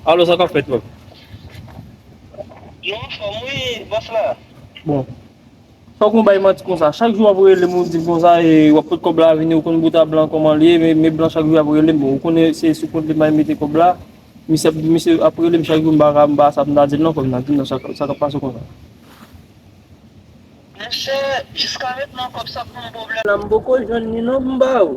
Alo sa kap fèt la? Yo anfòm wi bòs la. Bon. Fòk nou bay manti konsa. Chak jou wap relem ou dim konsa e wap pot kòb la vini ou konn bouda blan kòman li ye men blan chak jou ap relem bon ou konnen se sou kont li may mete kòb la misye ap misye ap relem chak jou m pa ka m pa sa pou m ta dil non fòk m ta dil non sa kap pase konsa. Monchè jiska mentnan kòb sa poum pwoblèm. La m poko jwenn li non poum ba ou.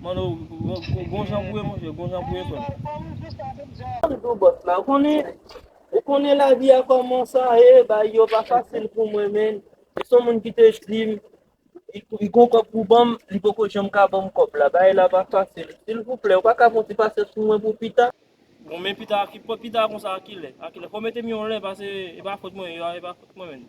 Manno, gon jan pou ye monchè, gon jan pou ye frè m. Doudou bòs la, ou konnen, ou konnen lavi a kòman sa ye, bagay yo pa fasil pou mwen menn. Se yon moun ki te di m, li gon kòb pou ban m, li poko janm ka ban m kòb la. Bagay la pa fasil. Silvouplè, ou pa ka fè yon ti pasans pou mwen pou pita? Bon men pita, pita konsa a ki lè? A ki lè? Fò w mete m yon lè pase e pa fòt mwen, e pa fòt mwen menn.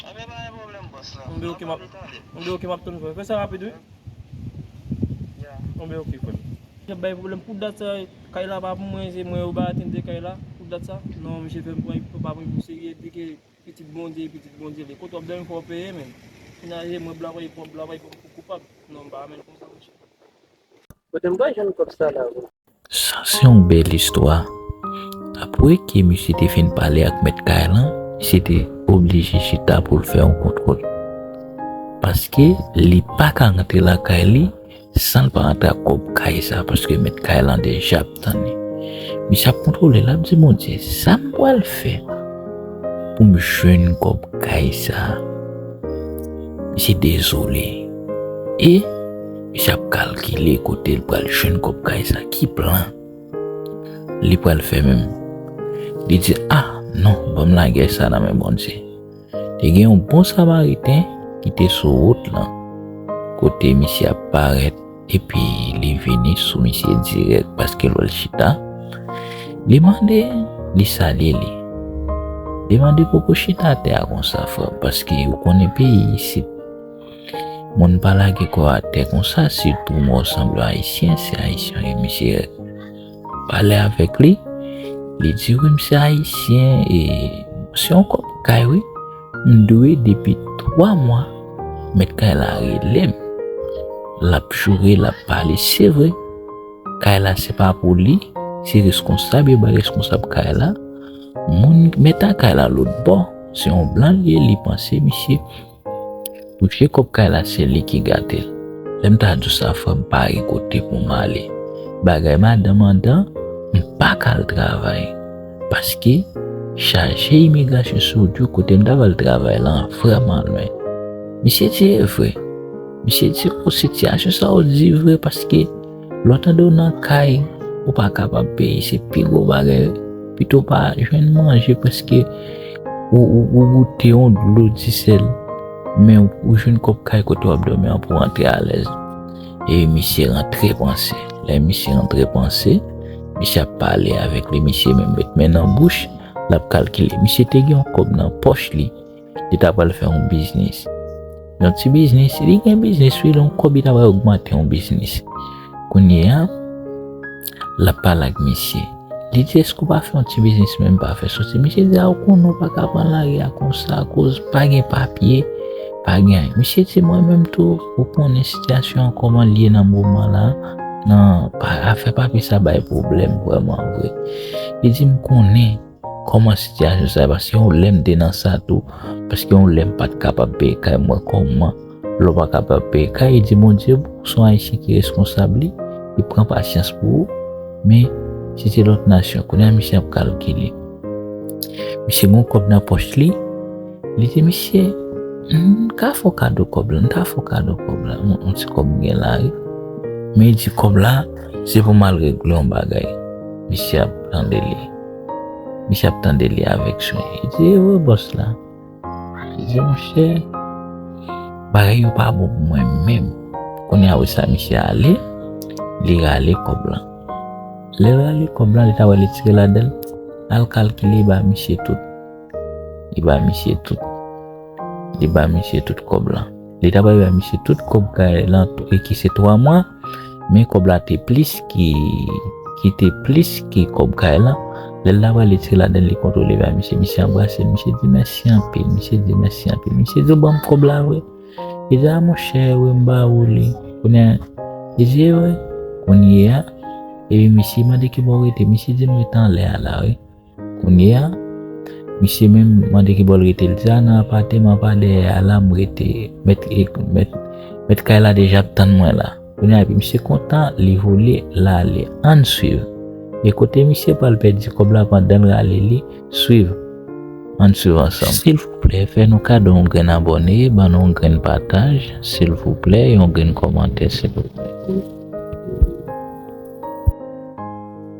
Ok pa gen problem boss la. Mwen ok map Mwen be ok map tann frèm. Fè sa rapid wi. Yeah. Mwen be ok frèm. Kap bay problem pou dat sa kay la pa pou mwen se mwen yo bay atente kay la pou dat sa. Non misye fèm pran epi pa pran pou serye epi ke pitit bondye e pitit bondye li. Kote wap domi fòw peye menn. Menaj e mwen blan wè e pòm blan wè e pòm pou koupab. Non m pa menm konsa mesye. Kote m pral jwenn kòb sa la vre? Sa se yon bèl istwa. Apre ke misye te fin pale ak mèt kay lan, misye te oblije chita pou l fè yon kontwòl. Paske li pa ka rantre lakay li san l pa rantre ak kòb kay sa paske mèt kay lan deja ap tann li. Misye ap kontwole l ap di Bondye, sa m pral fè pou m jwenn kòb kay sa? Misye dezole e. Misye ap kalkile kote li pral jwenn kòb kay sa, ki plan li pral fè menm. Li di, A, non, ban m lagè sa nan men Bondye. Te gen yon bon Samariten ki te sou wout lan, kote misye ap parèt, epi li vini sou misye dirèk paske l wè l chita. Li mande, li salye li. Li mande, Poko chita atè a konsa, frè m, paske ou konnen peyi isit. Moun pa lage kò atè konsa si pou mò sanble ayisyen se ayisyen li misye pale avèk li li di wi misye ayisyen e se yon kòp kay wi m dwe depi 3 mwa met kay la relem lap joure lap pale se vre kay la se pa pou li se reskonsab yo bay reskonsab kay la moun metan kay la lòt bò se yon blan li panse misye Touche kòb kay la se li ki gatel. Lèm ta diw sa frèm pa gen kote poum ale. Bagay madanm an dan mpaka al travay paske chaje imigrasyon sou wout yo kotem ta pral travay lan vrèman lwen. Misye di evre. Misye di oh sitiyasyon sa ou di vre paske. Lè w tande w nan kay ou pa kapab peye se pi gwo bagay pito pa jwenn manje paske ou goute yon dlo disèl men ou jwenn kòb kay kote w ap dòmi an pou w antre alèz e misye rantre panse lè misye rantre panse misye ap pale avèk li misye menm met men nan bouch l ap kalkile misye te gen yon kòb nan pòch li Li ta pral fè yon biznis. Yon ti biznis. Li gen biznis wi. Yon kòb li ta pral ogmante yon biznis. Kounye a, l ap pale ak misye. Li di, èske ou pa fè yon ti biznis menm pa fè soti? Misye di, a ou konnen ou pa ka pran lari a konsa akoz pa gen papye, pa gen anyen. Misye di, mwen menm tou, ou konnen sitiyasyon an kòman l ye nan moman la, nan afè papye sa bay pwoblèm vrèman vre. Li di, m konnen. Kòman sitiyasyon sa ye paske gen yon lè m te nan sa tou paske gen yon lè m pat kapab peye kay mwen kòman lè w pa kapab peye kay di Bondye pou w son ayisyen ki reskonsab li li pran pasyans pou ou men se te lòt nasyon kounye a misye ap kalkile misye gen yon kòb nan pòch li li di misye m ka fè w kado kòb la m ta fè w kado kòb la yon ti kòb m gen la wi men li di kòb la se pou m al regle yon bagay misye ap tande li. Misye ap tande li avèk swen. Li di, e wè bòs la. Li di, monchè, bagay yo pa bon pou mwen menm. Kounye a, wè sa misye ale, li rale kòb la. Lè l rale kòb la, li ta wè li tire ladan l, l al kalkile li ba misye tout. Li ba misye tout. Li ba misye tout kòb la. Li ta pral bay misye tout kòb kay lan e ki se 3 mwa, men kòb la te plis ki ki te plis ki kòb kay lan. Lè l ta pral li tire ladan l li kontre li bay misye, misye anbrase l, misye di mèsi anpil, misye di mèsi anpil. Misye di ou ban m kòb la vre? Li di a monchè wi m ba ou li. Kounye a, li di e wi. Kounye a, epi misye mande ki bò w rete, misye di m rete anlè a la wi. Kounye a, misye menm mande ki bò l rete. L di, A, nan apateman pa dèyè a la m rete. Mèt kay la deja ap tann mwen la. Kounye a, epi misye kontan, li vole, l ale. Ann suiv. E kote misye pral pèdi kòb la pandan l rale li? Suiv. Ann suiv ansanm. Silvouplè, fè nou kado yon grenn abòne, ban nou yon grenn pataj, silvouplè, yon grenn kòmantè, silvouplè.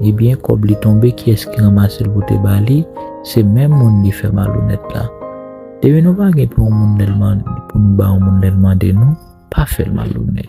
Ebyen kob li tonbe kiyes ki ranmasel pou te bali se menm moun li fè malonet la depi nou pa gen pou yon moun lèl mande pou nou ba yon moun lèl mande nou pa fèl malonet.